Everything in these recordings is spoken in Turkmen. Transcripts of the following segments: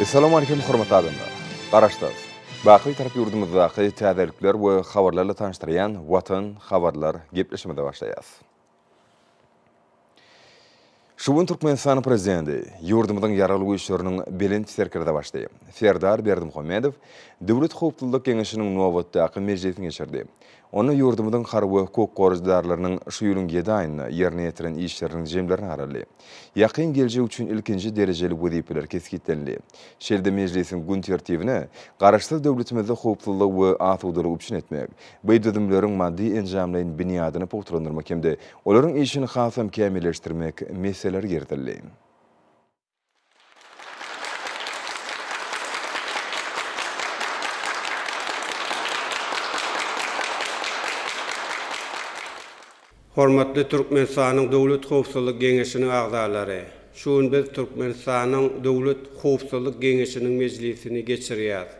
Essalam Aleýkum hormatly adamlar! Garaşsyz! Baky Bitarap ýurdumyzdaky täzelikler we habarlarla tanyşdyrýan Watan habarlar gepleşimize başlaýas. Şu gün Türkmenistanyň Prezidenti, ýurdumyzyň Ýaragly Güýçleriniň Belent Serkerdebaşy Serdar Berdimuhamedow Döwlet howpsuzlyk geňeşiniň nobatdaky mejlisini geçirdi. Onda ýurdumyzyň harby we hukuk goraýjydarlarynyň şu ýylyň ýedi aýynda ýerine ýetiren işleriniň jemlerini garaldy. Ýakyn geljek üçin ilkinji derejeli wezipeler kesgitlenildi. Şeýle-de mejlisiň gün tertibine Garaşsyz döwletimizde howpsuzlygy we asudalygy üpjün etmek, bu düzümleriň maddy-enjamlaýyn binýadyny pugtalandyrmak hem-de olaryň işini hasam kämilleşdirmek meseleleri girizildi. Hormatly Türkmenistanyň Döwlet howpsuzlyk geňeşiniň agzalary! Şu gün biz Türkmenistanyň Döwlet howpsuzlyk geňeşiniň mejlisini geçirýäris.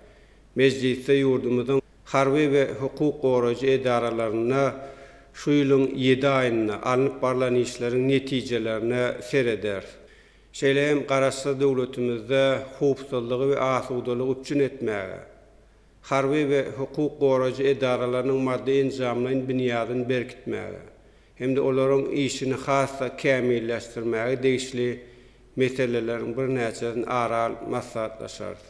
Mejlisde ýurdumyzyň harby we hukuk goraýjy edaralarynda şu ýylyň ýedi aýynda alnyp barlan işleriň netijelerine serederis. Şeýle hem Garaşsyz döwletimizde howpsuzlygy we asudalygy üpjün etmäge, harby we hukuk goraýjy edaralarynyň maddy-enjamlaýyn binýadyny berkitmäge hem-de olaryň işini has-da kämilleşdirmäge degişli meseleleriň birnäçesini ara alyp maslahatlaşarys.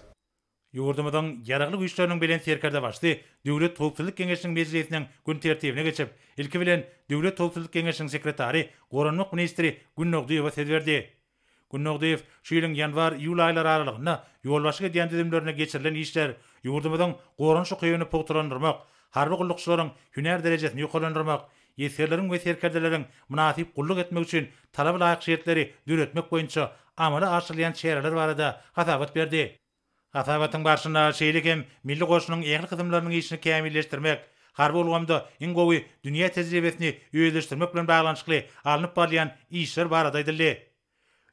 Ýurdumyzyň Ýaragly Güýçleriniň Belent Serkerdebaşysy Döwlet howpsuzlyk geňeşiniň mejlisiniň gün tertibine geçip, ilki bilen, Döwlet howpsuzlyk geňeşiniň sekretary, goranmak ministri Gün Nogdyýewa söz berdi. Gün Nogdyýew şu ýylyň ýanwar-iýul aýlary aralygynda ýolbaşçylyk edýän düzümlerinde geçirilen işler, ýurdumyzyň goranyş ukybyny pugtalandyrmak, harby gullukçylaryň hünär derejesini ýokarlandyrmak, esgerleriň we serkerdeleriň mynasyp gulluk etmegi üçin talaba laýyk şertleri döretmek boýunça amala aşyrylýan çäreler barada hasabat berdi. Hasabatyň barşynda şeýle hem milli goşunyň ähli kysymlarynyň işini kämilleşdirmek, harby ulgamda iň gowy dünýä tejribesini özleşdirmek bilen baglanyşykly alnyp barylýan işler barada aýdyldy.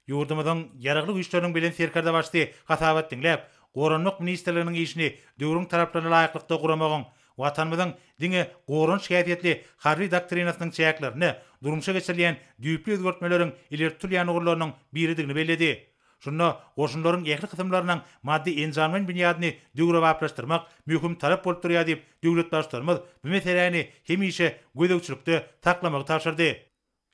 Ýurdumyzyň Ýaragly Güýçleriniň Belent Serkerdebaşysy hasabat diňläp, Goranmak ministrliginiň işini döwrüň talaplaryna laýyklykda guramagyň, Watanymyzyň diňe goranyş häsiýetli harby doktrinasynyň çäklerinde durmuşa geçirilýän düýpli özgertmeleriň ileri tutulýan ugurlarynyň biridigini belledi. Şunda goşunlaryň ähli kysymlarynyň maddy-enjamlaýyn binýadyny döwrebaplaşdyrmak möhüm talap bolup durýar diýip, döwlet Baştutanymyz bu meseläni hemişe gözegçilikde saklamagy tabşyrdy.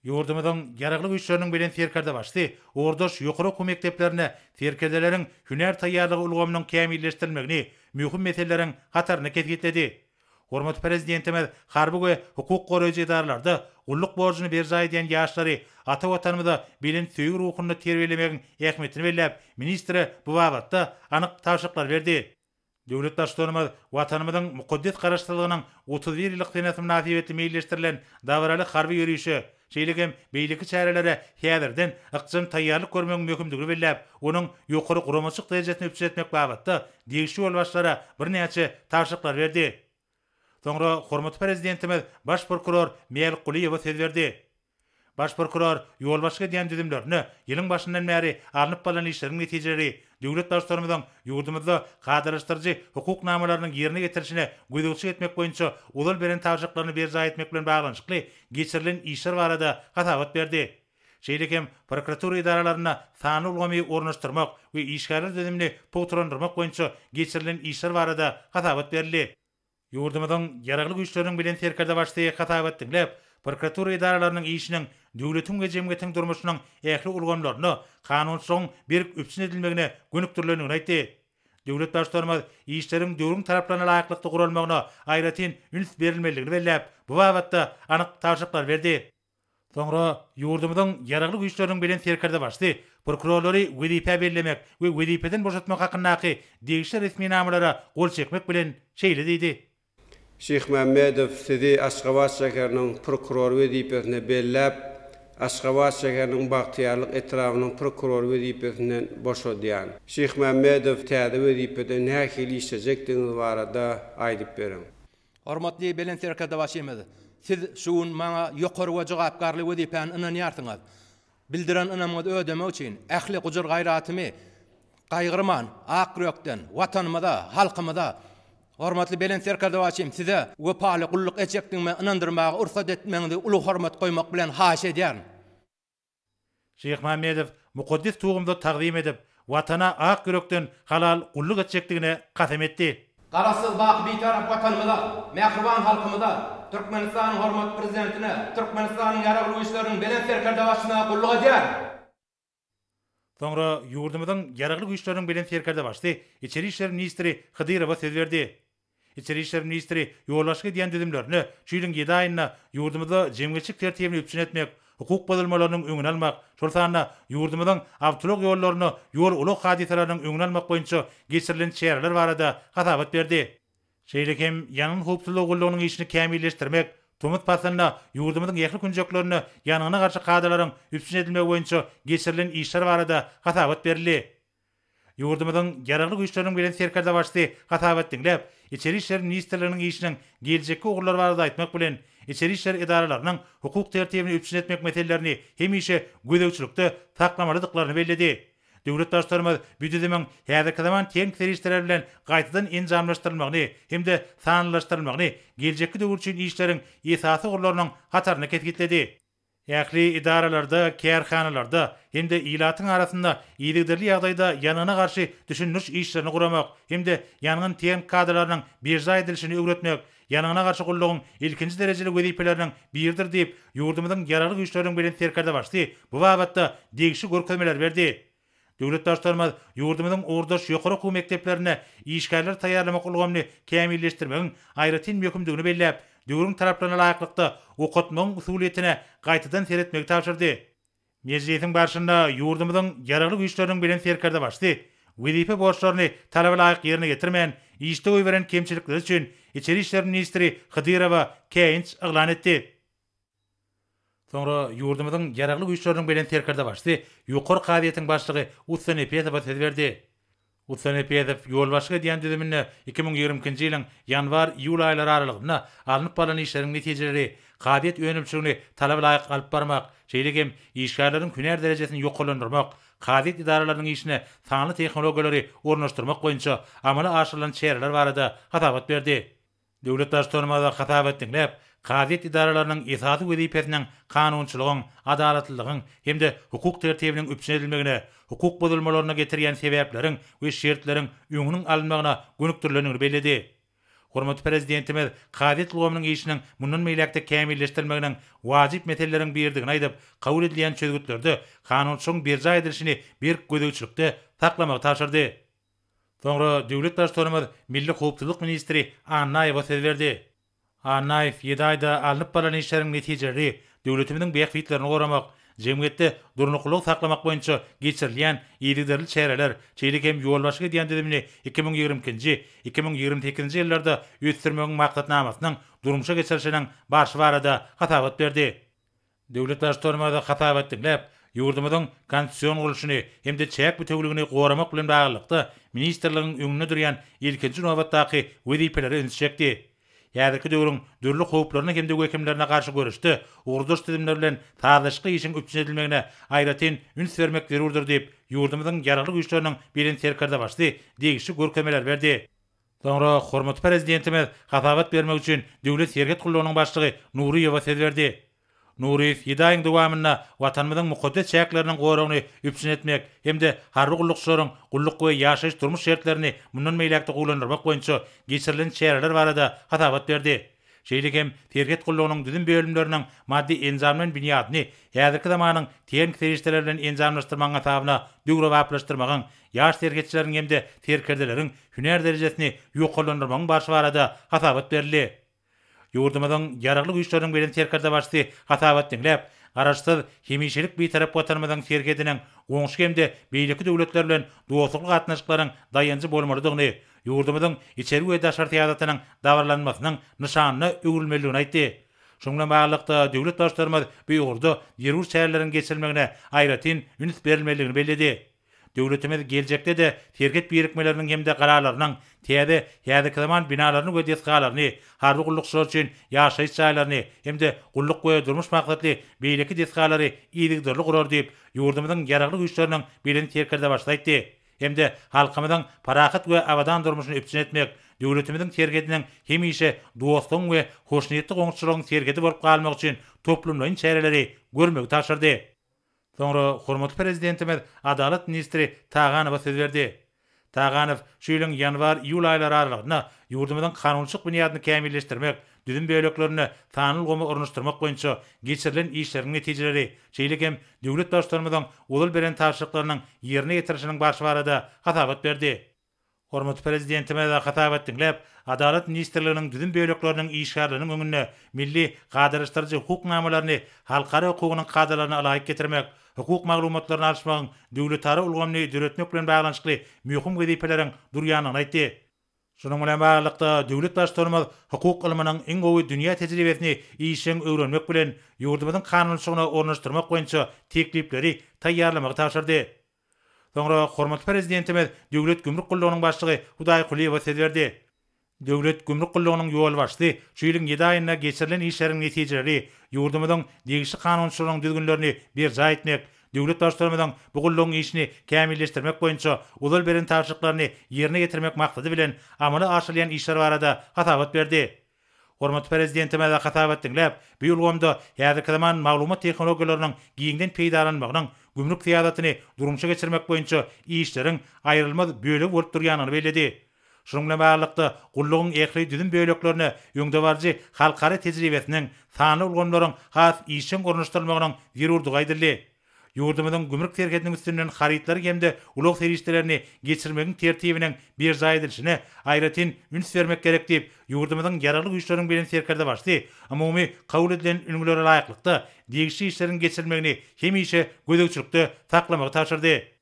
Ýurdumyzyň Ýaragly Güýçleriniň Belent Serkerdebaşysy ordaş ýokary okuw mekdeplerinde serkerdeleriň hünär taýýarlygy ulgamynyň kämilleşdirilmegini möhüm meseleleriň hatarynda kesgitledi. Hormatly Prezidentimiz harby we hukuk goraýjy edaralarda gulluk borjuny berjaý edýän ýaşlary ata Watanymyza belent söýgi ruhunda terbiýelemegiň ähmiýetini belläp, ministre bu babatda anyk tabşyryklar berdi. Döwlet Baştutanymyz Watanymyzyň mukaddes Garaşsyzlygynyň otuz bir ýyllyk senesi mynasybetli meýilleşdirilen dabaraly harby ýörişe, şeýle hem beýleki çärelere häzirden ykjam taýýarlyk görmegiň möhümdigini belläp, onuň ýokary guramaçylyk derejesini üpjün etmek babatda degişli ýolbaşçylara birnäçe tabşyryklary berdi. Soňra hormatly Prezidentimiz baş prokuror Miel Kuliýewe söz berdi. Baş prokuror ýolbaşçylyk edýän düzümlerine ýylyň başyndan bäri alnyp barlan işleriň netijeleri, döwlet Baştutanymyzyň ýurdumyzda kadalaşdyryjy hukuk namalarynyň ýerine ýetirilişine gözegçilik etmek boýunça ozal beren tabşyryklaryny berjaý etmek bilen baglanyşykly geçirilen işler barada hasabat berdi. Şeýle hem prokuratura edaralarynda sanly ulgamy ornaşdyrmak we işgärler düzümini pugtalandyrmak boýunça geçirilen işler barada hasabat berildi. Ýurdumyzyň Ýaragly Güýçleriniň Belent Serkerdebaşysy hasabat diňläp, prokuratura edaralarynyň işiniň döwletiň we jemgyýetiň durmuşynyň ähli ulgamlarynda kanunçylygyň berk üpjün edilmegine gönükdirilendigini aýtdy. Döwlet Baştutanymyz işleriň döwrüň talaplaryna laýyklykda guralmagyna aýratyn üns berilmelidigini belläp, bu babatda anyk tabşyryklar berdi. Soňra ýurdumyzyň Ýaragly Güýçleriniň Belent Serkerdebaşysy prokurorlary wezipä bellemek we wezipeden boşatmak hakyndaky degişli resminamalara gol çekmek bilen şeýle diýdi. Şyhmämmedow sizi Aşgabat şäheriniň prokurory wezipesine belläp, Aşgabat şäheriniň Bagtyýarlyk etrabynyň prokurory wezipesinden boşadýan. Şyhmämmedow täze wezipede nähili işlejekdigiňiz barada aýdyp beriň. Hormatly Belent Serkerdebaşymyz, Siz şu gün maňa ýokary we jogapkärli wezipäni ynanýarsyňyz. Bildiren ynamyňyzy ödemek üçin ähli gujur-gaýratymy gaýgyrman, ak ýürekden Watanymyza, halkymyza, hormatly Belent Serkerdebaşym Size wepaly gulluk etjekdigime ynandyrmaga rugsat etmegiňizi uly hormat goýmak bilen haýyş edýärin. Şyhmämmedow mukaddes tugumyzy tagzym edip, Watana ak ýürekden halal gulluk etjekdigine kasam etdi. Garaşsyz, baky Bitarap Watanymyza, mähriban halkymyza, Türkmenistanyň hormatly Prezidentine, Türkmenistanyň Ýaragly Güýçleriniň Belent Serkerdebaşysyna gulluk edýärin! Soňra ýurdumyzyň Ýaragly Güýçleriniň Belent Serkerdebaşysy Içeri işler ministri Hydyrowa söz berdi. Içeri işler ministri ýolbaşçylyk edýän düzümlerine şu ýylyň ýedi aýynda ýurdumyzda jemgyýetçilik tertibini üpjün etmek, hukuk bozulmalarynyň öňüni almak, şol sanda ýurdumyzyň awtoulag ýollarynda ýol-ulag hadysalarynyň öňüni almak boýunça geçirilen çäreler barada hasabat berdi. Şeýle hem ýangyn howpsuzlygy gullugynyň işini kämilleşdirmek, tomus paslynda ýurdumyzyň ähli künjeklerinde ýangyna garşy kadalaryň üpjün edilmegi boýunça geçirilen işler barada hasabat berildi. Ýurdumyzyň Ýaragly Güýçleriniň Belent Serkerdebaşysy hasabat diňläp, Içeri işler ministrliginiň işiniň geljekki ugurlary barada aýtmak bilen, içeri işler edaralarynyň hukuk tertibini üpjün etmek meselelerini hemişe gözegçilikde saklamalydyklaryny belledi. Döwlet Baştutanymyz bu düzümiň häzirki zaman tehnik serişdeler bilen gaýtadan enjamlaşdyrylmagyny hem-de sanlylaşdyrylmagyny geljekki döwür üçin işleriň esasy ugurlarynyň hatarynda kesgitledi. Ähli edaralarda, kärhanalarda hem-de ilatyň arasynda yzygiderli ýagdaýda ýangyna garşy düşündiriş işlerini guramak hem-de ýangyn tehniki kadalarynyň berjaý edilişini öwretmek ýangyna garşy gullugyň ilkinji derejeli wezipeleriniň biridir diýip, ýurdumyzyň Ýaragly Güýçleriniň Belent Serkerdebaşysy bu babatda degişli görkezmeleri berdi. Döwlet Baştutanymyz ýurdumyzyň ugurdaş ýokary okuw mekdeplerinde işgärleri taýýarlamak ulgamyny kämilleşdirmegiň aýratyn möhümdigini belläp, döwrüň talaplaryna laýyklykda okatmagyň usulyýetine gaýtadan seretmegi tabşyrdy. Mejlisiň barşynda ýurdumyzyň Ýaragly Güýçleriniň Belent Serkerdebaşysy wezipe borçlaryny talaba laýyk ýerine ýetirmän, işde goýberen kemçilikleri üçin Içeri işler ministri Hydyrowa käýinç yglan etdi. Soňra ýurdumyzyň Ýaragly Güýçleriniň Belent Serkerdebaşysy Ýokary kazyýetiň başlygy Ussa Nepesowa söz berdi. Ussa Nepesow ýolbaşçylyk edýän düzüminde iki müň ýigrimi ikinji ýylyň ýanwar-iýul aýlary aralygynda alnyp barlan işleriň netijeleri, kazyýet önümçiligini talaba laýyk alyp barmak, şeýle hem işgärleriň hünär derejesini ýokarlandyrmak, kazyýet edaralarynyň işine sanly tehnologiýalary ornaşdyrmak boýunça amala aşyrylan çäreler barada hasabat berdi. Döwlet Baştutanymyza hasap etdiňläp, kazyýet edaralarynyň esasy wezipesiniň kanunçylygyň, adalatlylygyň hem-de hukuk tertibiniň üpjün edilmegine, hukuk bozulmalaryna getirýän sebäpleriň we şertleriň öňüniň alynmagyna gönükdirilendigini belledi. Hormatly Prezidentimiz kazyýet ulgamynyň işiniň mundan beýläk-de kämilleşdirilmeginiň wajyp meseleleriň biridigini aýdyp, kabul edilýän çözgütlerde kanunçylygyň berjaý edilişini berk gözegçilikde saklamagy tabşyrdy. Soňra döwlet Baştutanymyz milli howpsuzlyk ministri Annaýewa söz berdi. Annaýew ýedi aýda alnyp barlan işleriň netijeleri, döwletimiziň bähbitlerini goramak, jemgyýetde durnuklylygy saklamak boýunça geçirilýän yzygiderli çäreler, şeýle hem ýolbaşçylyk edýän düzümini iki müň ýigrimi ikinji, iki müň ýigrimi sekizinji ýyllarda ösdürmegiň maksatnamasynyň durmuşa geçirilişiniň barşy barada hasabat berdi. Döwlet Baştutanymyz hasabat diňläp, ýurdumyzyň konstitusion gurluşyny hem-de çäk bütewligini goramak bilen baglylykda, ministrligiň öňünde durýan ilkinji nobatdaky wezipelere ünsi çekdi. Häzirki döwrüň dürli howplaryna hem-de wehimlerine garşy göreşde ugurdaş düzümler bilen sazlaşykly işiň üpjün edilmegine aýratyn üns bermek zerurdyr diýip, ýurdumyzyň Ýaragly Güýçleriniň Belent Serkerdebaşysy degişli görkezmeler berdi. Soňra hormatly Prezidentimiz hasabat bermek üçin Döwlet serhet gullugynyň başlygy Nuryýewe söz berdi. Nuryýew ýedi aýyň dowamynda Watanymyzyň mukaddes çäkleriniň goragyny üpjün etmek hem-de harby gullukçylaryň gulluk we ýaşaýyş-durmuş şertlerini mundan beýläk-de gowulandyrmak boýunça geçirilen çäreler barada hasabat berdi. Şeýle hem serhet gullugynyň düzüm bölümleriniň maddy-enjam bilen binýadyny häzirki zamanyň tehniki serişdeleri bilen enjamlaşdyrmagyň hasabyna döwrebaplaşdyrmagyň, ýaş serhetçileriň hem-de serkerdeleriň hünär derejesini ýokarlandyrmagyň barşy barada hasabat berildi. Ýurdumyzyň Ýaragly Güýçleriniň Belent Serkerdebaşysy hasabat diňläp, Garaşsyz, hemişelik Bitarap Watanymyzyň serhediniň goňşy hem-de beýleki döwletler bilen dostlukly gatnaşyklaryň daýanjy bolmalydygyny, ýurdumyzyň içeri we daşary syýasatynyň dabaralanmasynyň nyşanyna öwrülmelidigini aýtdy. Şunuň bilen baglylykda, döwlet Baştutanymyz bu ugurda zerur çäreleriň geçirilmegine aýratyn üns berilmelidigini belledi. Döwletimiz geljekde-de serhet birikmeleriniň hem-de galalarynyň täze, häzirki zaman binalaryny we desgalaryny, harby gullukçylar üçin ýaşaýyş jaýlaryny hem-de gulluk we durmuş maksatly beýleki desgalary yzygiderli gurar diýip, ýurdumyzyň Ýaragly Güýçleriniň Belent Serkerdebaşysy aýtdy. hem-de halkymyzyň parahat we abadan durmuşyny üpjün etmek, döwletimiziň serhediniň hemişe dostlugyň we hoşniýetli goňşuçylygyň serhedi bolup galmagy üçin toplumlaýyn çäreleri görmegi tabşyrdy. Soňra hormatly Prezidentimiz adalat ministri Taganowa söz berdi. Taganow şu ýylyň ýanwar-iýul aýlary aralygynda ýurdumyzyň kanunçylyk binýadyny kämilleşdirmek, düzüm böleklerinde sanly ulgamy ornaşdyrmak boýunça geçirilen işleriň netijeleri, şeýle hem döwlet Baştutanymyzyň ozal beren tabşyryklarynyň ýerine ýetirilişiniň barşy barada hasabat berdi. Hormatly Prezidentimiz hasabat diňläp, Adalat ministrliginiň düzüm bölekleriniň işgärleriniň öňünde milli kadalaşdyryjy hukuk namalaryny halkara hukugynyň kadalaryna ylaýyk getirmek, hukuk maglumatlaryny alyşmagyň döwletara ulgamyny döretmek bilen baglanyşykly möhüm wezipeleriň durýandygyny aýtdy. Şunuň bilen baglylykda, döwlet Baştutanymyz hukuk ylmynyň iň gowy dünýä tejribesini işjeň öwrenmek bilen, ýurdumyzyň kanunçylygyna ornaşdyrmak boýunça teklipleri taýýarlamagy tabşyrdy. Soňra hormatly Prezidentimiz Döwlet gümrük gullugynyň başlygy Hudaý Kulyýewa söz berdi. Döwlet gümrük gullugynyň ýolbaşçysy şu ýylyň ýedi aýynda geçirilen işleriň netijeleri, ýurdumyzyň degişli kanunçylygynyň düzgünlerini berjaý etmek, Döwlet Baştutanymyzyň bu gullugyň işini kämilleşdirmek boýunça ozal beren tabşyryklaryny ýerine ýetirmek maksady bilen amala aşyrylýan işler barada hasabat berdi. Hormatly Prezidentimize hasabat diňläp, bu ulgamda häzirki zaman maglumat tehnologiýalarynyň giňden peýdalanmagynyň gümrük syýasatyny durmuşa geçirmek boýunça işleriň aýrylmaz bölegi bolup durýandygyny belledi. Şunuň bilen baglylykda, gullugyň ähli düzüm böleklerine öňdebaryjy halkara tejribesiniň, sanly ulgamlaryň has işjeň ornaşdyrylmagynyň zerurdygy aýdyldy. Ýurdumyzyň gümrük serhediniň üstünden harytlary hem-de ulag serişdelerini geçirmegiň tertibiniň berjaý edilişine aýratyn üns bermek gerek diýip, ýurdumyzyň Ýaragly Güýçleriniň Belent Serkerdebaşysy umumy kabul edilen ülňülere laýyklykda, degişli işleriň geçirilmegini hemişe gözegçilikde saklamagy tabşyrdy.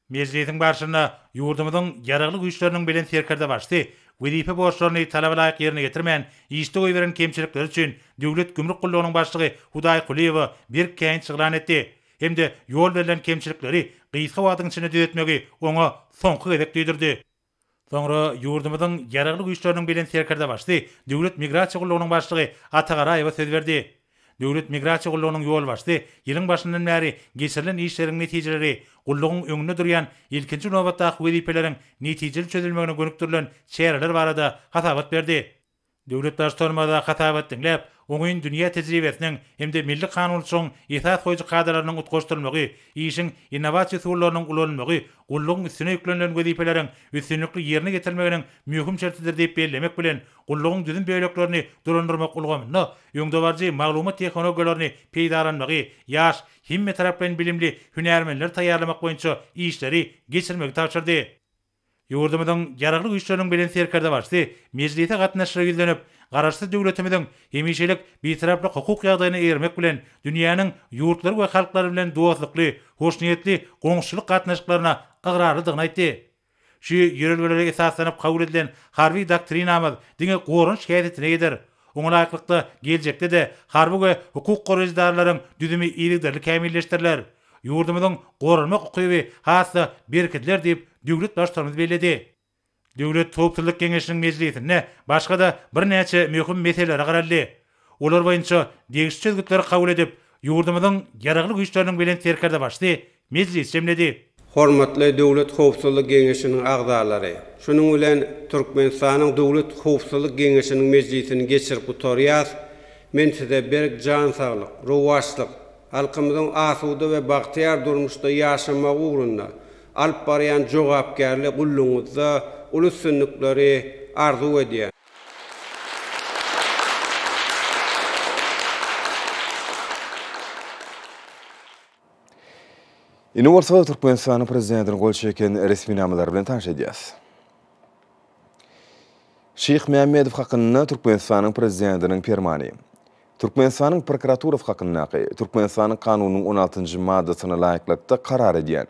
Mejlisiň barşynda ýurdumyzyň Ýaragly Güýçleriniň Belent Serkerdebaşysy wezipe borçlaryny talabalaýyk ýerine ýetirmän, işde goýberen kemçilikleri üçin Döwlet gümrük gullugynyň başlygy Hudaý Kulyýewa berk käýinç ýyglan etdi hem-de ýol berlen kemçilikleri gysga wagtyň içinde düzetmegi oňa soňky gezek duýdurdy. Soňra ýurdumyzyň Ýaragly Güýçleriniň Belent Serkerdebaşysy Döwlet migrasiýa gullugynyň başlygy Ata Garaýewa söz berdi. Döwlet migrasiýa gullugynyň ýolbaşçysy ýylyň başyndan bäri geçirilen işleriň netijeleri gullugyň öňünde durýan ilkinji nobatdaky wezipeleriň netijeli çözülmegine gönükdirilen çäreler barada hasabat berdi. Döwlet Baştutanymyza hasabat diňläp, oňyn dünýä tejribesiniň hem-de milli kanunçylygyň esas goýujy kadalarynyň utgaşdyrylmagy, işiň innowasiýa usullarynyň ulanylmagy gullugyň üstüne ýüklenilen wezipeleriň üstünlikli ýerine ýetirilmeginiň möhüm şertidir diýip bellemek bilen, gullugyň düzüm böleklerini dolandyrmak ulgamynda öňdebaryjy maglumat tehnologiýalaryny peýdalanmagy, ýaş, hemmetaraplaýyn bilimli hünärmenleri taýýarlamak boýunça işleri geçirmegi tabşyrdy. Ýurdumyzyň Ýaragly Güýçleriniň Belent Serkerdebaşysy mejlise gatnaşyjylara ýüzlenip, Garaşsyz döwletimiziň hemişelik Bitaraplyk hukuk ýagdaýyna eýermek bilen, dünýäniň ýurtlary we halklary bilen dostlukly, hoşniýetli goňşuçylyk gatnaşyklaryna ygrarlydygyny aýtdy. Şu ýörelgelere esaslanyp kabul edilen Harby doktrinamyz diňe goranyş häsiýetine eýedir. Oňa laýyklykda, geljekde-de harby we hukuk goraýjy edaralaryň düzümi yzygiderli kämilleşdiriler. Ýurdumyzyň goranmak ukyby has-da berkidiler diýip, döwlet Baştutanymyz belledi. Döwlet howpsuzlyk geňeşiniň mejlisinde başga-da birnäçe möhüm meselelere garaldy. Olar boýunça degişli çözgütleri kabul edip, ýurdumyzyň Ýaragly Güýçleriniň Belent Serkerdebaşysy mejlis jemledi. Hormatly Döwlet howpsuzlyk geňeşiniň agzalary! Şunuň bilen Türkmenistanyň Döwlet howpsuzlyk geňeşiniň mejlisini geçirip gutarýas. Men size berk jan saglyk, rowaçlyk, halkymyzyň asuda we bagtyýar durmuşda ýaşamagy ugrunda alyp barýan jogapkärli gullugyňyzda uly üstünlikleri arzuw edýän. Indi bolsa Türkmenistanyň prezidentiniň gol çeken resminamalary bilen tanyş edýäs. Şyh Mämmedow hakynda Türkmenistanyň prezidentiniň permany. Türkmenistanyň prokuraturasy hakyndaky, Türkmenistanyň Kanunynyň on altynjy maddasyna laýyklykda karar edýän.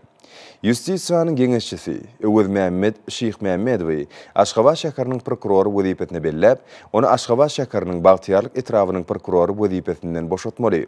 Ýustisiýanyň geňeşçisi, Öwezmämmet Şyhmämmedowy Aşgabat şäheriniň prokurory wezipesine belläp, ony Aşgabat şäheriniň Bagtyýarlyk etrabynyň prokurory wezipesinden boşatmaly.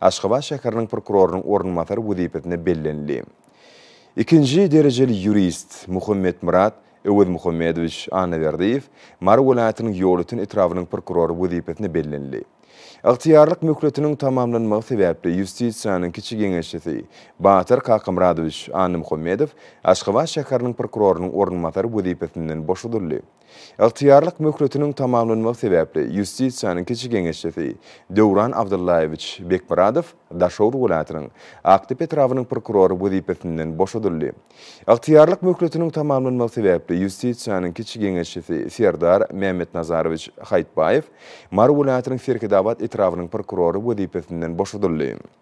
Aşgabat şäheriniň prokurorynyň orunbasary wezipesine bellenildi. Ikinji derejeli ýurist Muhammetmyrat Öwezmuhammedowiç Annaberdiýew Mary welaýatynyň Ýolöten etrabynyň prokurory wezipesine bellenildi. Ygtyýarlyk möhletiniň tamamlanmagy sebäpli Ýustisiýanyň kiçi geňeşçisi Batyr Kakamyradowiç Annamuhammedow Aşgabat şäheriniň prokurorynyň orunbasary wezipesinden boşadyldy. Ygtyýarlyk möhletiniň tamamlanmagy sebäpli Ýustisiýanyň kiçi geňeşçisi Döwran Abdyllaýewiç Bekmyradow Daşoguz welaýatynyň Akdepe etrabynyň prokurory wezipesinden boşadyldy. Ygtyýarlyk möhletiniň tamamlanmagy sebäpli Ýustisiýanyň kiçi geňeşçisi Serdar Mämmetnazarowiç Haýytbaýew Mary welaýatynyň Serhetabat etrabynyň prokurory wezipesinden boşadyldy.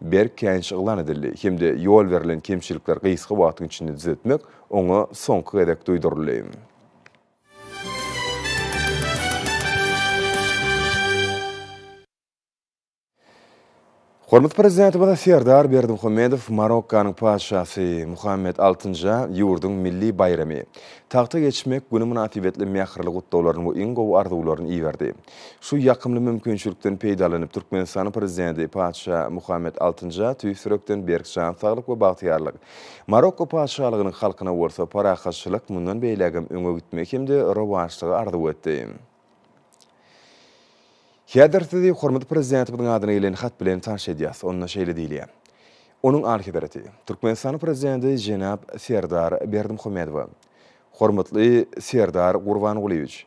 berk käýinç yglan edildi hem-de ýol berlen kemçilikler gysga wagtyň içinde düzetmek oňa soňky gezek duýduryldy. Hormatly Prezidentimiz Serdar Berdimuhamedow Marokkanyň Patyşasy Muhammet Altynja ýurduň milli baýramy, Tagta geçmek güni mynasybetli mähirli gutlaglaryny we iň gowy arzuwlaryny iberdi. Şu ýakymly mümkinçilikden peýdalanyp, Türkmenistanyň Prezidenti Patyşa Muhammet Altynja tüýs ýürekden berk jan saglyk we bagtyýarlyk, Marokko Patyşalygynyň halkyna bolsa parahatçylyk, mundan beýlägem öňe gitmegi hem-de rowaçlygy arzuw etdi. Häzir sizi hormatly Prezidentimiziň adyna gelen hat bilen tanyş edýäs. Onda şeýle diýilýär. Onuň Alyhezreti, Türkmenistanyň Prezidenti jenap Serdar Berdimuhamedowa, Hormatly Serdar Gurbangulyýewiç!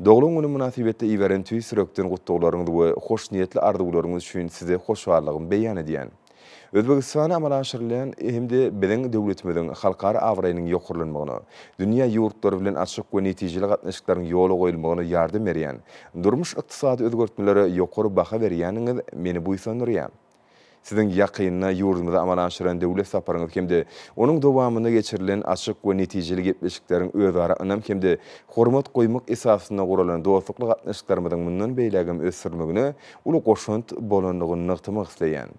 Doglan günüm mynasybetli iberen tüýs ýürekden gutlaglaryňyz we hoşniýetli arzuwlaryňyz üçin Size hoşallygymy beýan edýän. Özbegistana amala aşyrylýan hem-de biziň döwletimiziň halkara abraýynyň ýokarlanmagyna, dünýä ýurtlary bilen açyk we netijeli gatnaşyklaryň ýola goýulmagyna ýardam berýän durmuş-ykdysady özgertmelere ýokary baha berýäniňiz meni buýsandyrýar. Siziň ýakynda ýurdumyza amala aşyran döwlet saparyňyz hem-de onuň dowamynda geçirilen açyk we netijeli gepleşikleriň özara ynam hem-de hormat goýmak esasynda guralan dostlukly gatnaşyklarymyzyň mundan beýlägem ösdürilmegine uly goşant bolandygyny nygtamak isleýän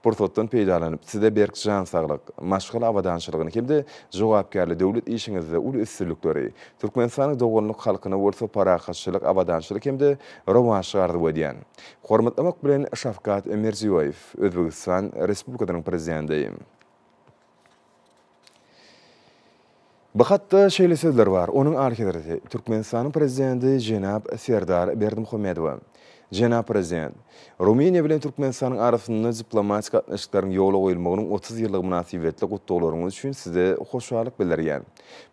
pursatdan peýdalanyp, Size berk jan saglyk, maşgala abadançylygyny hem-de jogapkärli döwlet işiňizde uly üstünlikleri, Türkmenistanyň doganlyk halkyna bolsa parahatçylyk, abadançylyk hem-de rowaçlyk arzuw edýän. Hormatlamak bilen Şawkat Mirziýoýew, Özbegistan Respublikasynyň Prezidenti. Bu hatda şeýle sözler bar, Onuň Alyhezreti, Türkmenistanyň Prezidenti jenap Serdar Berdimuhamedowa. Jenap Prezident, Rumyniýa bilen Türkmenistanyň arasynda diplomatik gatnaşyklaryň ýola goýulmagynyň otuz ýyllygy mynasybetli gutlaglaryňyz üçin Size hoşallyk bildirýän.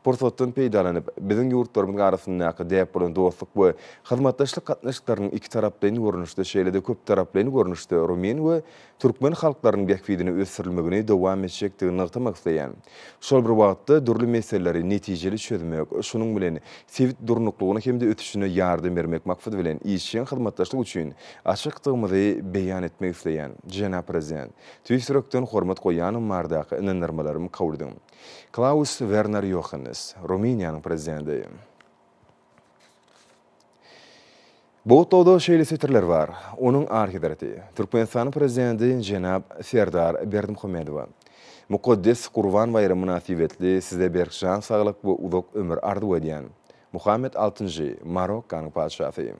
Pursatdan peýdalanyp, biziň ýurtlarymyzyň arasyndaky däp bolan dostluk we hyzmatdaşlyk gatnaşyklarynyň ikitaraplaýyn görnüşde, şeýle-de köptaraplaýyn görnüşde rumyn we türkmen halklarynyň bähbidine ösdürilmegini dowam etjekdigini nygtamak isleýän. Şol bir wagtda, dürli meseleleri netijeli çözmek, şunuň bilen sebit durnuklygyna hem-de ösüşine ýardam bermek maksady bilen işjeň hyzmatdaşlyk üçin açykdygymyzy beýan etmek isleýän. Jenap Prezident, tüýs ýürekden hormat goýýanymbarada ynandyrmalarym kabul ediň. Klaus Werner Ýohannes, Rumyniýanyň Prezidenti. Bu gutlagda şeýle setirler bar, Onuň Arhidreti, Türkmenistanyň Prezidenti jenap Serdar Berdimuhamedowa, mukaddes Gurban baýramy mynasybetli Size berk jan saglyk we uzak ömür arzuw edýän. Muhammet altynjy, Marokkanyň Patyşasy.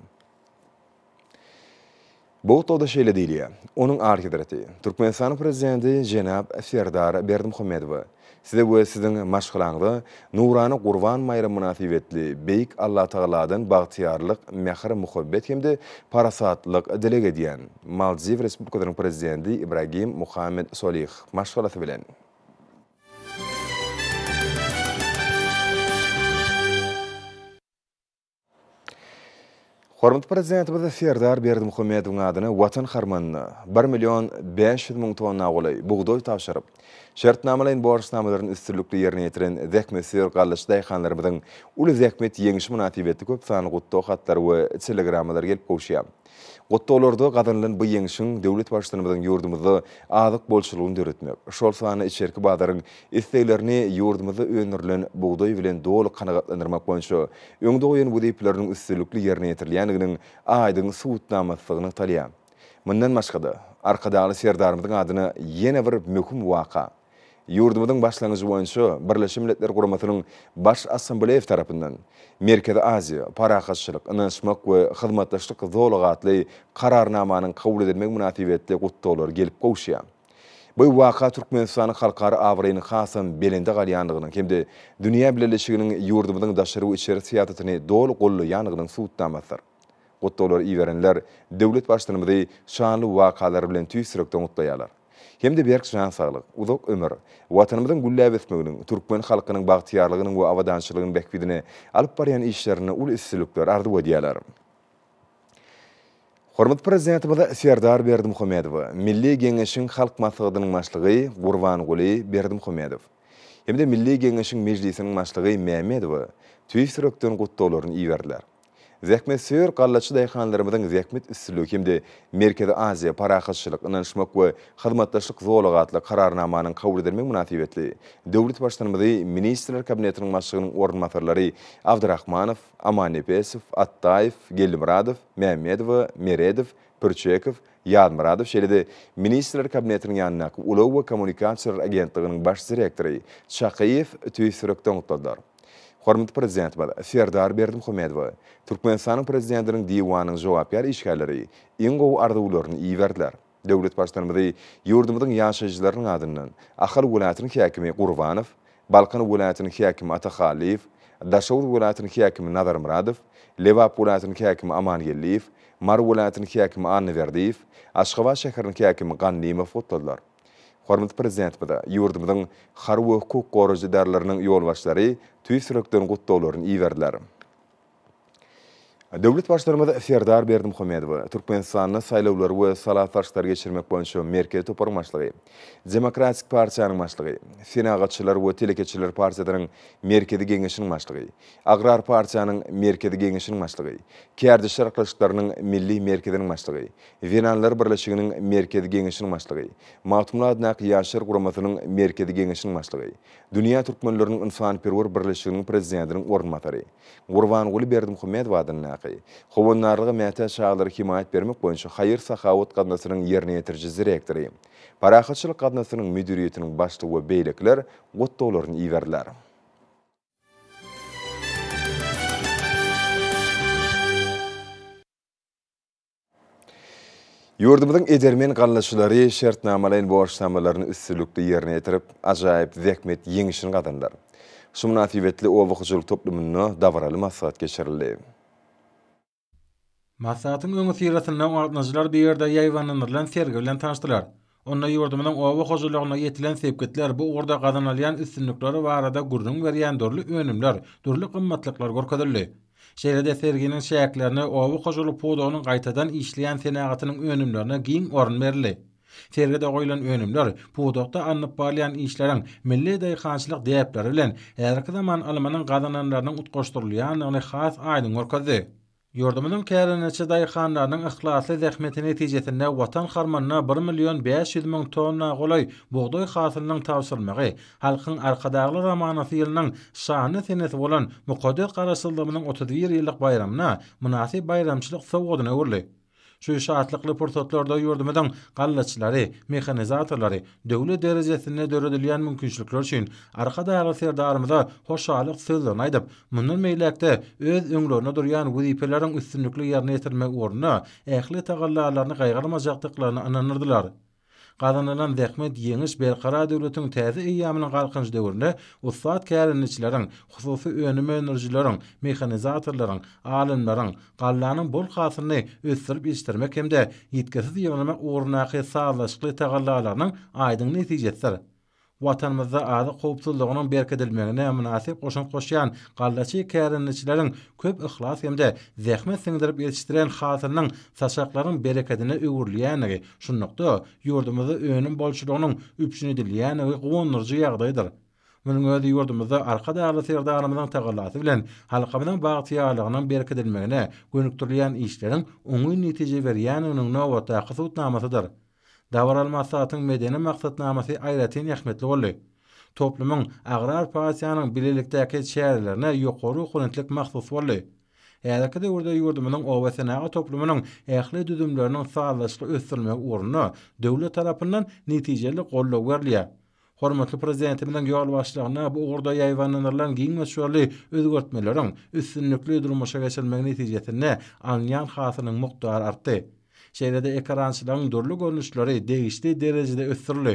Bu otagda şeýle diýilýär, Onuň Alyhezreti, Türkmenistanyň Prezidenti jenap Serdar Berdimuhamedowa, Size we Siziň maşgalaňyza nurana Gurban baýramy mynasybetli Beýik Allatagaladan bagtyýarlyk, mähir-muhabbet hem-de parasatlyk dileg edýän. Maldiw Respublikasynyň Prezidenti Ibragim Muhammed Solih maşgalasy bilen. Hormatly Prezidentimiz Serdar Berdimuhamedowyň adyna Watan harmanyna bir million bäş ýüz müň tonna golaý bugdaý tabşyryp, şertnamalaýyn borçnamalaryny üstünlikli ýerine ýetiren zähmetsöýer gallaçy daýhanlarymyzyň uly zähmet ýeňşi mynasybetli köp sanly gutlag hatlary we telegrammalary gelip gowuşýar. Gutlaglary-da gazanylan bu ýeňşiň döwlet Baştutanymyzyň ýurdumyzda azyk bolçulygyny döretmek, şol sanda içerki bazaryň isleglerini ýurdumyzda öndürilen bugdaý bilen doly kanagatlandyrmak boýunça öňde goýan wezipeleriniň üstünlikli ýerine ýetirilýändiginiň aýdyň subutnamasy nygtalýar. Mundan başga-da, Arkadagly Serdarymyzyň adyna ýene bir möhüm waka, Ýurdumyzyň başlangyjy boýunça Birleşen Milletler Guramasynyň Baş Assambleýasy tarapyndan Merkezi Aziýa, parahatçylyk, ynanyşmak we hyzmatdaşlyk zolagy atly Kararnamanyň kabul edilmegi mynasybetli gutlaglar gelip gowuşýar. Bu waka Türkmenistanyň halkara abraýynyň hasam belende galýandygynyň hem-de dünýä bileleşiginiň ýurdumyzyň daşary we içeri syýasatyny doly gollaýandygynyň subutnamasydyr. Gutlaglary iberenler döwlet Baştutanymyzy şanly wakalar bilen tüýs ýürekden gutlaýarlar hem-de berk jan saglyk, uzak ömür, Watanymyzyň gülläp ösmeginiň, türkmen halkynyň bagtyýarlygynyň we abadançylygynyň bähbidine alyp barýan işlerinde uly üstünlikler arzuw edýärler. Hormatly Prezidentimiz Serdar Berdimuhamedowa Milli Geňeşiň Halk Maslahatynyň Başlygy Gurbanguly Berdimuhamedow hem-de Milli Geňeşiň Mejlisiniň Başlygy Mämmedowa tüýs ýürekden gutlaglaryny iberdiler. Zähmetsöýer gallaçy daýhanlarymyzyň zähmet üstünligi hem-de Merkezi Aziýa parahatçylyk, ynanyşmak we hyzmatdaşlyk zolagy atly Kararnamanyň kabul edilmegi mynasybetli döwlet Baştutanymyzy Ministrler Kabinetiniň Başlygynyň orunbasarlary Abdyrahmanow, Amannepesow, Atdaýew, Geldimyradow, Mämmedowa, Meredow, Pürçekow, Ýazmyradow şeýle-de Ministrler Kabinetiniň ýanyndaky Ulag we kommunikasiýalar agentliginiň baş direktory Çakyýew tüýs ýürekden gutladylar. Hormatly Prezidentimiz Serdar Berdimuhamedowa Türkmenistanyň Prezidentiniň Diwanynyň jogapkär işgärleri iň gowy arzuwlaryny iberdiler. Döwlet Baştutanymyzy ýurdumyzyň ýaşaýjylarynyň adyndan Ahal welaýatynyň häkimi Gurbanow, Balkan welaýatynyň häkimi Atahallyýew, Daşoguz welaýatynyň häkimi Nazarmyradow, Lebap welaýatynyň häkimi Amangeldiýew, Mary welaýatynyň häkimi Annaberdiýew, Aşgabat şäheriniň häkimi Gannymow gutladylar. Hormatly Prezidentimize ýurdumyzyň harby hukuk goraýjy edaralarynyň ýolbaşçylary tüýs ýürekden gutlaglaryny iberdiler. Döwlet Baştutanymyz Serdar Berdimuhamedowy Türkmenistanda Saýlawlary we sala salşyklary geçirmek boýunça merkezi toparyň başlygy, Demokratik partiýanyň başlygy, Senagatçylar we telekeçiler partiýasynyň Merkezi geňeşiniň başlygy, Agrar partiýanyň Merkezi geňeşiniň başlygy, Kärdeşler gatnaşyklarynyň Milli merkeziniň başlygy, Zenanlar birleşiginiň Merkezi Geňeşiniň başlygy, Magtymguly adyndaky Ýaşlar guramasynyň Merkezi Geňeşiniň başlygy, Dünýä türkmenleriniň ynsanperwer birleşiginiň prezidentiniň orunbasary, Gurbanguly Berdimuhamedow adyndaky Howandarlyga mätäç çagalara hemaýat bermek boýunça haýyr-sahawat gaznasynyň ýerine ýetiriji direktory, Parahatçylyk gaznasynyň müdiriýetiniň başlygy we beýlekiler gutlaglaryny iberdiler. Ýurdumyzyň edermen gallaçylary şertnamalaýyn borçnamalaryny üstünlikli ýerine ýetirip, ajaýyp zähmet ýeňişini gazandylar. Şu mynasybetli oba hojalyk toplumynda dabaraly maslahat geçirildi. Maslahatyň öňüsyrasynda gatnaşyjylar bir ýerde ýaýbaňlandyrylan sergi bilen tanyşdylar. Onda ýurdumyzyň oba hojalygynda ýetilen sepgitler, bu ugurda gazanylýan üstünlikleri barada gürrüň berýän dürli önümler, dürli gymmatlyklar görkezildi. Şeýle-de serginiň çäklerinde oba hojalyk pudagynyň gaýtadan işleýän senagatynyň önümlerine giň orun berildi. Sergide goýlan önümler pudakda alnyp barylýan işleriň milli daýhançylyk däpleri bilen häzirki zaman ylmynyň gazananlarynyň utgaşdyrylýandygyny has aýdyň görkezdi. Ýurdumyzyň kärendeçi daýhanlarynyň yhlasly zähmeti netijesinde Watan harmanyna bir million bäş ýüz müň tonna golaý bugdaý hasylynyň tabşyrylmagy, Halkyň Arkadagly romanasy ýylynyň şanly senesi bolan mukaddes Garaşsyzlygymyzyň otuz bir ýyllyk baýramyna mynasyp baýramçylyk sowgadyna öwrüldi. Şu şatlykly pursatlarda ýurdumyzyň gallaçylary, mehanizatorlary döwlet derejesinde döredilýän mümkinçilikler üçin Arkadagly Serdarymyza hoşallyk sözlerini aýdyp, mundan beýläk-de öz öňlerinde durýan wezipeleriň üstünlikli ýerine ýetirilmegi ugrunda ähli tagallalaryny gaýgyrmajakdyklaryna ynandyrdylar. Gazanylan zähmet, ýeňiş Berkarar döwletiň täze eýýamynyň Galkynyş döwründe ussat kärendeçileriň, hususy önüm öndürijileriň, mehanizatorlaryň, alymlaryň, gallanyň bol hasylyny ösdürip ýetişdirmek hem-de ýitgisiz ýygnamak ugrundaky sazlaşykly tagallalarynyň aýdyň netijesidir. Watanymyzda azyk howpsuzlygynyň berkidilmegine mynasyp goşant goşýan gallaçy kärendeçileriň köp yhlas hem-de zähmet siňdirip ýetişdiren hasylynyň saçaklaryň berekedine öwrülýändigi, şunlukda, ýurdumyzda önüm bolçulygynyň üpjün edilýändigi guwandyryjy ýagdaýdyr. Munuň özi ýurdumyzda Arkadagly Serdarymyzyň tagallasy bilen halkymyzyň bagtyýarlygynyň berkidilmegine gönükdirilýän işleriň oňyn netije berýändiginiň nobatdaky subutnamasydyr. Dabaraly maslahatyň medeni maksatnamasy aýratyn ähmiýetli boldy. Toplumyň agrar partiýanyň bilelikdäki çärelerine ýokary oponentlik mahsus boldy. Häzirki döwürde ýurdumyzyň obasenagat toplumynyň ähli düzümleriniň sazlaşykly ösdürilmegi ugrunda döwlet tarapyndan netijeli goldaw berilýär. Hormatly Prezidentimiziň ýolbaşçylygynda bu ugurda ýaýbaňlandyrylan giň möçberli özgertmeleriň üstünlikli durmuşa geçirilmegi netijesinde alynýan hasylyň mukdary artdy. Şeýle-de ekerançylygyň dürli görnüşleri degişli derejede ösdürildi.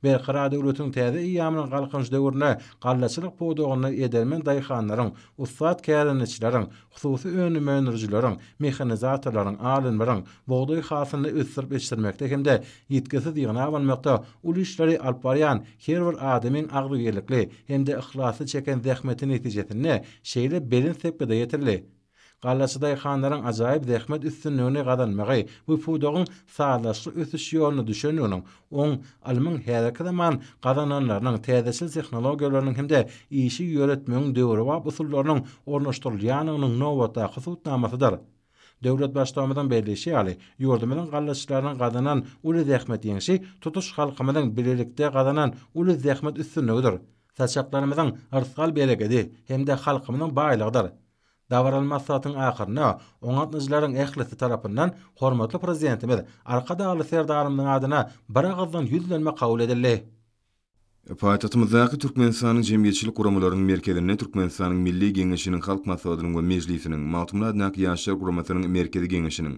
Berkarar döwletiň täze eýýamynyň Galkynyş döwründe gallaçylyk pudagynda edermen daýhanlaryň, ussat kärendeçileriň, hususy önüm öndürijileriň, mehanizatorlaryň, alymlaryň bugdaý hasylyny ösdürip ýetişdirmekde hem-de ýitgisiz ýygnap almakda uly işleri alyp barýan her bir adamyň agzybirlikli hem-de yhlasly çeken zähmeti netijesinde şeýle belent sepgide ýetirildi. Gallaçy daýhanlaryň ajaýyp zähmet üstünligini gazanmagy bu pudagyň sazlaşykly ösüş ýoluna düşendiginiň Oň, ylmyň häzirki zaman gazananlarynyň, täzeçil tehnologiýalarynyň hem-de işi ýöretmegiň döwrebap usullarynyň ornaşdyrylýanynyň nobatdaky subutnamasydyr. Döwlet Baştugumyzyň belleýşi ýaly, ýurdumyzyň gallaçylarynyň gazanan uly zähmet ýeňşi tutuş halkymyzyň bilelikde gazanan uly zähmet üstünligidir, saçaklarymyzyň yrsgal-berekedi hem-de halkymyzyň baýlygydyr. Dabaraly maslahatyň ahyrynda oňatnyjylaryň ählisi tarapyndan hormatly Prezidentimiz Arkadagly Serdarymyzyň adyna biragyzdan ýüzlenme kabul edildi. Paýtagtymyzdaky Türkmenistanyň jemgyýetçilik guramalarynyň merkezinde Türkmenistanyň Milli Geňeşiniň Halk Maslahatynyň we Mejlisiniň, Magtymguly adyndaky Ýaşlar guramasynyň Merkezi Geňeşiniň,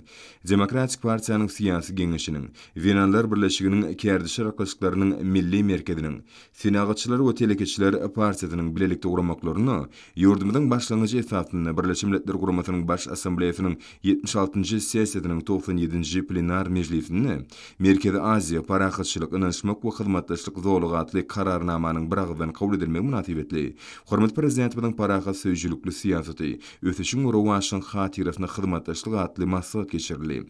Demokratik partiýanyň Syýasy Geňeşiniň, Zenanlar birleşiginiň Kärdeşler gatnaşyklarynyň Milli merkeziniň, Senagatçylar we telekeçiler partiýasynyň bilelikde guramaklaryna ýurdumyzyň başlangyjy esasynda Birleşen Milletler Guramasynyň Baş Assambleýasynyň ýetmiş altynjy sessiýasynyň togsan ýedinji plenar mejlisinde Merkezi Aziýa, parahatçylyk, ynanyşmak we hyzmatdaşlyk zolagy atly Kararnamanyň biragyzdan kabul edilmegi mynasybetli hormatly Prezidentimiziň parahat söýüjilikli syýasaty, ösüşiň we rowaçlygyň hatyrasyna hyzmatdaşlyk atly maslahat geçirildi.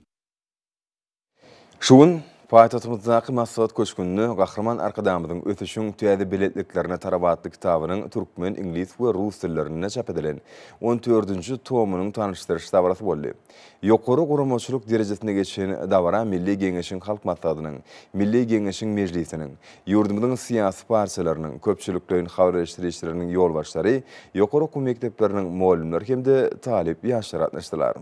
Şu gün paýtagtymyzdaky Maslahat köşgünde Gahryman Arkadagymyzyň Ösüşiň täze belentliklerine tarap atly kitabynyň türkmen, iňlis we rus dillerinde çap edilen on dördünji tomynyň tanyşdyryş dabarasy boldy. Ýokary guramaçylyk derejesinde geçen dabara Milli Geňeşiň Halk Maslahatynyň, Milli Geňeşiň Mejlisiniň, ýurdumyzyň syýasy partiýalarynyň, köpçülikleýin habarleşdirişleriniň ýolbaşçylary, ýokary okuw mekdepleriniň mugallymlary hem-de talyp ýaşlar gatnaşdylar.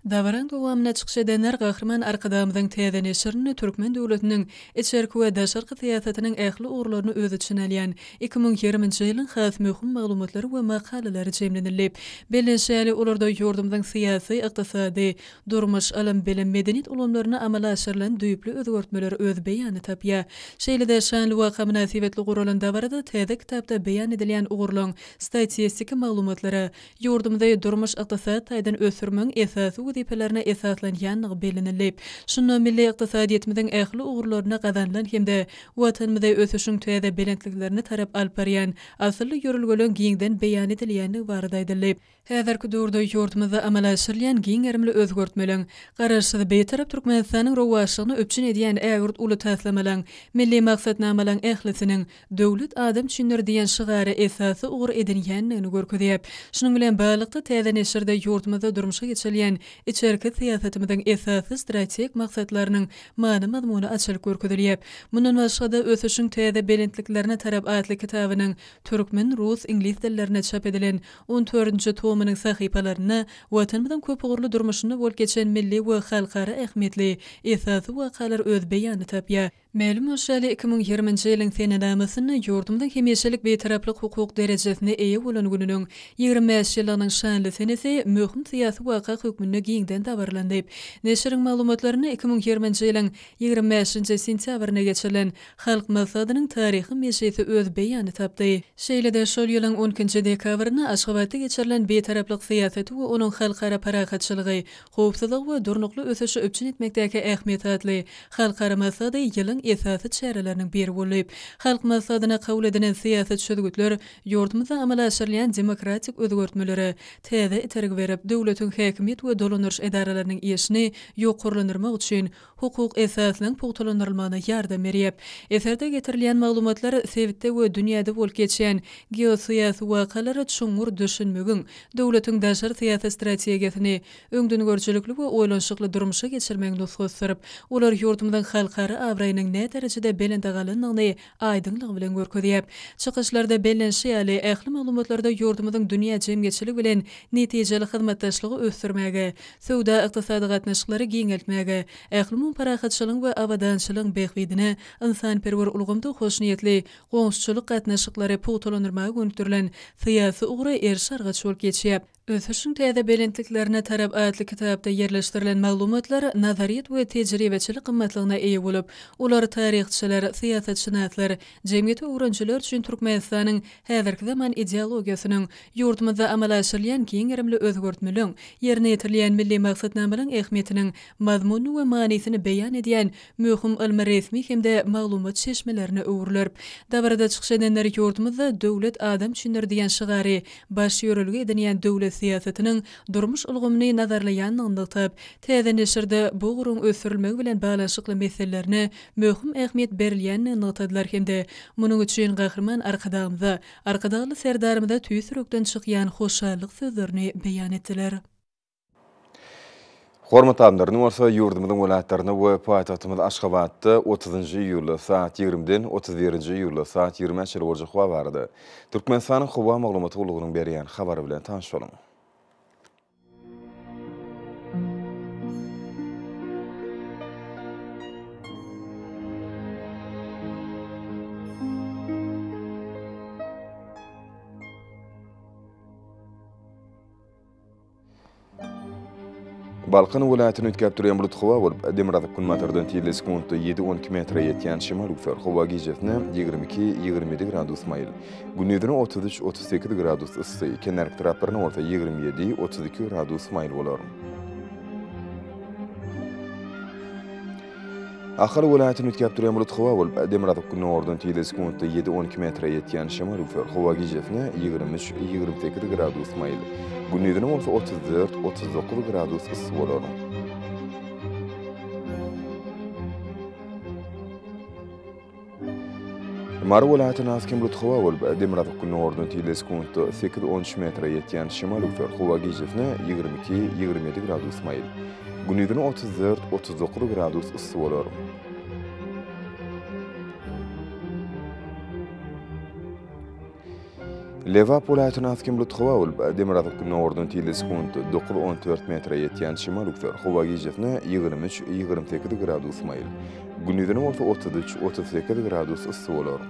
Dabaryň dowamynda çykyş edenler Gahryman Arkadagymyzyň täze neşirini türkmen döwletiniň içerki we daşarky syýasatynyň ähli ugurlaryny öz içine alýan iki müň ýigrimi nji ýylyň has möhüm maglumatlary we makalalary jemlenildi. Bellenişi ýaly, olarda ýurdumyzyň syýasy, ykdysady, durmuş, ylym-bilim, medeniýet ulgamlarynda amala aşyrylan düýpli özgertmeler öz beýanyny tapýar. Şeýle-de, şanly waka mynasybetli guralan dabarada täze kitapda beýan edilýän ugurlaryň statistiki maglumatlary, Ýurdumyzy durmuş-ykdysady taýdan ösdürmegiň esasy wezipelerine esaslanýandygy bellenildi. Şunda milli ykdysadyýetimiziň ähli ugurlaryna gazanylan hem-de Watanymyzy ösüşiň täze belentliklerine tarap alyp barýan asylly ýörelgeleriň giňden beýan edilýändigi barada aýdyldy. Häzirki döwürde ýurdumyzda amala aşyrylýan giň gerimli özgertmeleriň, Garaşsyz, Bitarap Türkmenistanyň rowaçlygyny üpjün edýän ägirt uly taslamalaryň, milli maksatnamalaryň ählisiniň Döwlet adam üçindir diýen şygary esasy ugur edinýändigini görkezýär. Şunuň bilen baglylykda, täze neşirde ýurdumyzda durmuşa geçirilýän içerki syýasatymyzyň esasy strategik maksatlarynyň many-mazmuny açylyp görkezilýär. Mundan başga-da, Ösüşiň täze belentliklerine tarap atly kitabynyň türkmen, rus, iňlis dillerinde çap edilen on dördünji tomynyň sahypalarynda Watanymyzyň köpugurly durmuşynda bolup geçen milli we halkara ähmiýetli esasy wakalar öz beýanyny tapýar. Mälim bolşy ýaly, iki müň ýigriminji ýylyň senenamasynda ýurdumyzyň hemişelik Bitaraplyk hukuk derejesine eýe bolan gününiň ýigrimi bäş ýyllygynyň şanly senesi möhüm syýasy waka hökmünde giňden dabaralandy. Neşiriň maglumatlarynda iki müň ýigriminji ýylyň ýigrimi bäşinji sentýabrynda geçirilen Halk Maslahatynyň taryhy mejlisi öz beýanyny tapdy. Şeýle-de şol ýylyň on ikinji dekabrynda Aşgabatda geçirilen Bitaraplyk syýasaty we onuň halkara parahatçylygy, howpsuzlygy we durnukly ösüşi üpjün etmekdäki ähmiýeti atly halkara maslahaty ýylyň esasy çäreleriniň biri boldy. Halk Maslahatyna kabul edilen syýasy çözgütler ýurdumyzda amala aşyrylýan demokratik özgertmelere täze itergi berip, döwletiň häkimiýet we dolandyryş edaralarynyň işini ýokarlandyrmak üçin hukuk esasynyň pugtalandyrylmagyna ýardam berýär. Eserde getirilýän maglumatlar sebitde we dünýäde bolup geçýän geosyýasy wakalara çuňňur düşünmegiň, döwletiň daşary syýasy strategiýasyny öňdengörüjilikli we oýlanyşykly durmuşa geçirmegiň nusgasydyr. Olar ýurdumyzyň halkara abraýynyň näderejede belende galandygyny aýdyňlygy bilen görkezýär. Çykyşlarda bellenişi ýaly, ähli maglumatlarda ýurdumyzyň dünýä jemgyýetçiligi bilen netijeli hyzmatdaşlygy ösdürmäge, söwda-ykdysady gatnaşyklary giňeltmäge, ählumumy parahatçylygyň we abadançylygyň bähbidine ynsanperwer ulgamda hoşniýetli goňşuçylyk gatnaşyklary pugtalandyrmaga gönükdirilen syýasy ugra eriş-argaç bolup geçýär. Ösüşiň täze belentliklerine tarap atly kitapda ýerleşdirilen maglumatlar nazaryýet we tejribeçilik gymmatlygyna eýe bolup, olar taryhçylar, syýasatşynaslar, jemgyýeti öwrenijiler üçin Türkmenistanyň häzirki zaman ideologiýasynyň, ýurdumyzda amala aşyrylýan giň gerimli özgertmeliň, ýerine ýetirilýän milli maksatnamalaryň ähmiýetiniň mazmunyny we manysyny beýan edýän möhüm ylmy-resmi hem-de maglumat çeşmelerine öwrüler. Dabarada çykyş edenler ýurdumyzda Döwlet adam üçindir diýen şygary baş ýörelge edinýän döwlet syýasatynyň durmuş ulgamyny nazarlaýandygyny nygtap, täze neşirde bu ugruň ösdürilmegi bilen baglanyşykly meselelerine möhüm ähmiýet berilýändigini nygtadylar hem-de munuň üçin Gahryman Arkadagymyza, Arkadagly Serdarymyza tüýs ýürekden çykýan hoşallyk sözlerini beýan etdiler. Hormatly adamlar, indi bolsa ýurdumyzyň welaýatlarynda we paýtagtymyz Aşgabatda otuzynjy iýulda saat ýigrimiden otuz birinji iýulda saat ýigrimi bäşe çenli boljak howa barada Türkmenistanyň howa maglumat gullugynyň berýän habary bilen tanyş boluň. Balkan welaýatyny üýtgäp durýan bulut howa bolup, demirgazyk günbatardan tizligi sekuntda ýedi on iki metre ýetýän şemal üwser. Howa gijesine ýigrimi iki, ýigrimi ýedi gradus maýyl. Gündizine otuz üç, otuz sekiz gradus yssy, kenarki taraplaryna bolsa ýigrimi ýedi, otuz iki gradus maýyl bolar. Ahal welaýatyny üýtgäp durýan bulut howa bolup, demirgazyk günordan tizligi sekuntda ýedi-on iki metre ýetýän şemal üflär. Howa gijesine ýigrimi üç-ýigrimi sekiz gradus maýyl, gündizine bolsa otuz dört-otuz dokuz gradus yssy bolar. Mary welaýatyna has kemrut howa bolup, demirgazyk günüň orduna tizligi sekuntda sekiz, on üç metre ýetýän şemal öwser. Howa gijesine ýigrimi iki, ýigrimi ýedi gradus maýyl. Gündizine otuz dört, otuz dokuz gradus yssy bolar. Lebap welaýatyna has kim lutgaw bolup, demirgazyk gündogardan tilde sekunt dokuz on dört metre ýetýän şimal üwser. Howa gijesine ýigrimi üç, ýigrimi sekiz gradus maýyl, gündizine bolsa otuz üç, otuz sekiz gradus yssy bolar.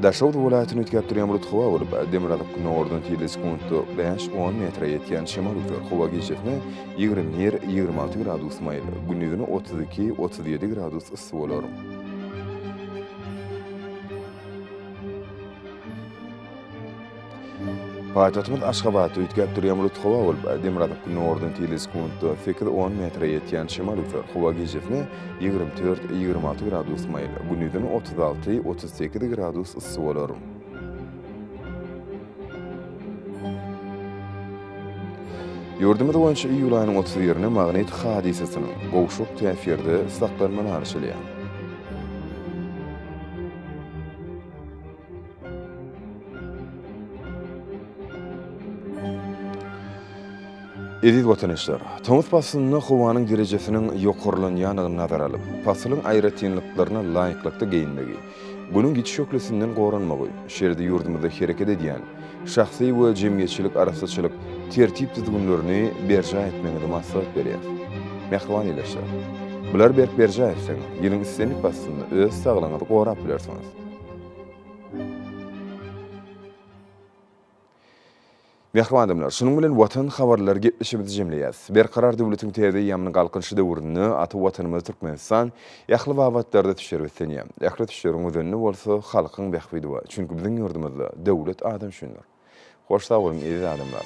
Daşoguz welaýatyny üýtgäp durýan bulut howa bolup, demirgazyk günordan tirli sekuntda bäş-on metre ýetýän şemal üzer. Howa gijesine ýigrimi bir, ýigrimi alty gradus maýyl, gündizine otuz iki, otuz ýedi gradus yssy bolar. Paýtagtymyz Aşgabatda üýtgäp durýan bulut howa bolup, demirgazyk günordan tile sekuntda sekiz on metre ýetýän şemal üfär, howa gijesi ýigrimi dört, ýigrimi alty gradus maýyl, gündizine otuz alty, otuz sekiz gradus yssy bolar. Ýurdumyz boýunça iýul aýynyň otuz birine magnit hadysasynyň, gowşak täsirde saklanma garaşylýar. Eziz watandaşlar, tomus paslynda howanyň derejesiniň ýokarlanýandygyny nazara alyp, pasylyň aýratynlyklaryna laýyklykda geýinmegi, Günüň ýiti şöhlesinden goranmagy, şeýle-de ýurdumyzda hereket edýän şahsy we jemgyýetçilik arassaçylyk tertip-düzgünlerini berjaý etmegiňizi maslahat berýär. Mähriban ildeşler! Bulary berk berjaý etseňiz, ýylyň islendik paslynda öz saglygyňyzy gorap bilersiňiz. Mähriban adamlar, şunuň bilen Watan habarlary gepleşigimizi jemleýäs. Berkarar döwletiň täze eýýamynyň Galkynyşy döwründe ata Watanymyz Türkmenistan ähli babatlarda düşer beslenýär. Ähli düşleriň özenini bolsa halkyň bähbidi bar. Çünki biziň ýurdumyzda döwlet adam üçindir. Hoş sag boluň eziz adamlar.